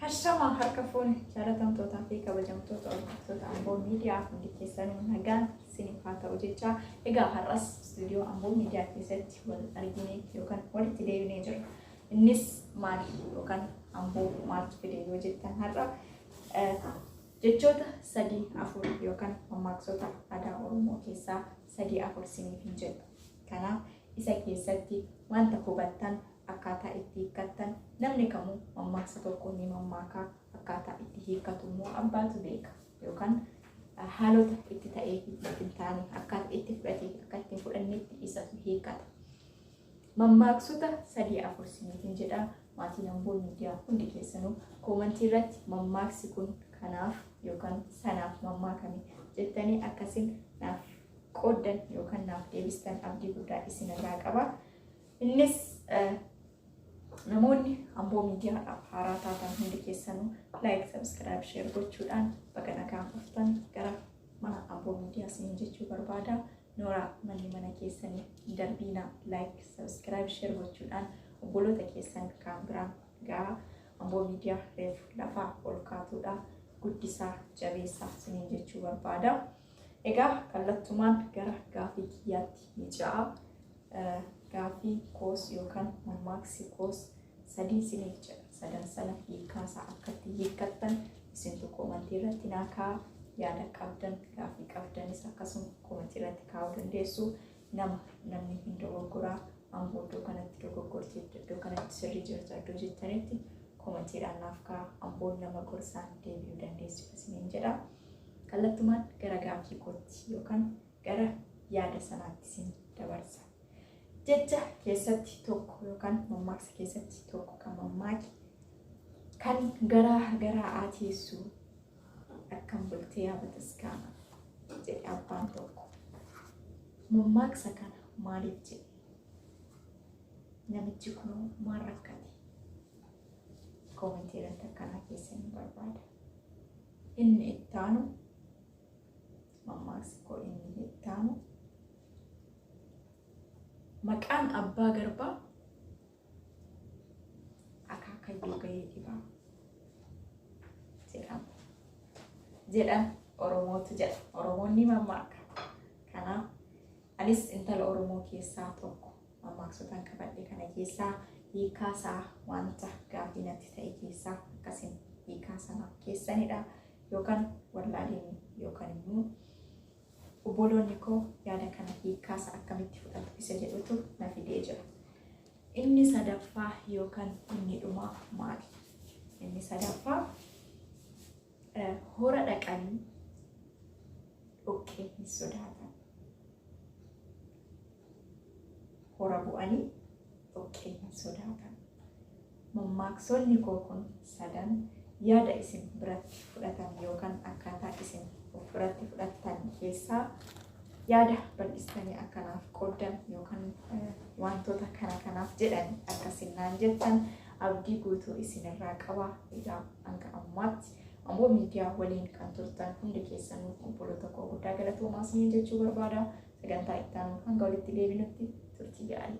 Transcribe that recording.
Hashama harka fuune jaalatamtootaa fi kabajamtoota hordoftoota Amboo Miidiyaa hundi keessanuu nagaan isiniif haa ta'u jecha egaa har'as istuudiyoo Amboo Miidiyaa keessatti wal arginee yookaan walitti deebinee jirra. Innis maali yookaan Amboo maaltu fide yoo jettan har'a eh, jechoota sadii afur yookaan mammaaksoota aadaa Oromoo keessaa sadii afur isiniif hin jedhu. Kanaaf isa keessatti wanta hubattan akkaataa itti hiikkattan namni kamuu mammaaksa tokko ni mammaaka akkaataa itti hiikkatu immoo abbaatu beeka yookaan haalota itti ta'ee fi itti hin taane akkaataa itti fudhatee fi akka itti hin fudhannetti isatu hiikkata. Mammaaksota sadii afur siniitiin jedha maatiin hamboo miidiyaa hundi keessanuu koomantii irratti mammaaksi kun kanaaf yookaan sanaaf mammaakame jettanii akkasiin naaf qooddan yookaan naaf deebistan abdii guddaa isinirraa qaba. Innis namoonni amboo miidiyaadhaaf haaraa taatan hundi keessanuu laayik sabiskiraayib sheer gochuudhaan baga nagaan dhuftan gara mana amboo miidiyaa siin jechuu barbaada nooraa manni mana keessanii hin darbiina laayik sabiskiraayib sheer gochuudhaan obboloota keessan kaan biraan gahaa amboo miidiyaa reef lafaa ol kaatuudha guddisaa jabeessaa siin jechuu barbaada egaa kallattumaan gara gaafii kiyyaatti ni ja'a Gaaffii koos yookaan mammaaksi koos sadii siniif jedha. Sadan sana hiikaa isaa akkatti hiikkattan isintu koomantii irratti naa kaa'a. Yaada qabdan gaaffii qabdanis akkasuma koomantii irratti kaa'uu dandeessu. Nama namni hin dogoggoraa amboo iddoo kanatti dogoggorti iddoo kanatti sirrii jirta iddoo jettanitti koomantiidhaan naaf kaa'a. Amboon nama gorsaan deebi'uu dandeessu isiniin jedha. Kallattumaan gara gaaffii kootti yookaan gara yaada sanaatti isin dabarsa. Jecha keessatti tokko yookaan mammaaksa keessatti tokko kan mammaake kan garaa garaa aateessu akkam bultee abataskaana jedhe abbaan tokko. Mammaaksa kana maaliif jedhe? Namichi kun maal rakkate? Koomentii irratti akkanaa keessanii barbaada. Inni itti aanu Mammaaksi koo inni hittaanu maqaan abbaa garbaa akaakayyuu gahee dhibaa jedhama. Jedhan Oromootu jedha. Oromoon ni mammaaka. Kanaaf anis intala Oromoo keessaa tokko mammaaksotaan qabadhe kana keessaa hiikaasaa wanta gaafii natti ta'e keessaa akkasiin hiikaa sanaaf keessanidha. yookaan wallaalini yookaan immoo obboloonni koo yaada kana hiikkaasa akkamitti fudhatu isa jedhutu na fidee jira. Inni sadaffaa yookaan inni dhumaa maali? Inni sadaffaa eh, hora dhaqanii dhoqqee hin sodaatan. Hora bu'anii dhoqqee hin sodaatan. Mammaaksonni koo kun sadan yaada isin biratti fudhatan yookan akkaataa isin of biratti fudhattan keessaa yaada bal'istanii akka naaf qooddan yookan wantoota kana kanaaf jedhani akka isin naan jettan abdii guutuu isin irraa qaba. Egaa hanga ammaatti Amboo Miidiyaa waliin kan turtan hundi keessanuu obboloota koo guddaa galatoomaa isiniin jechuu barbaada. Sagantaa itti aanuun hanga walitti deebinutti turtii gaarii.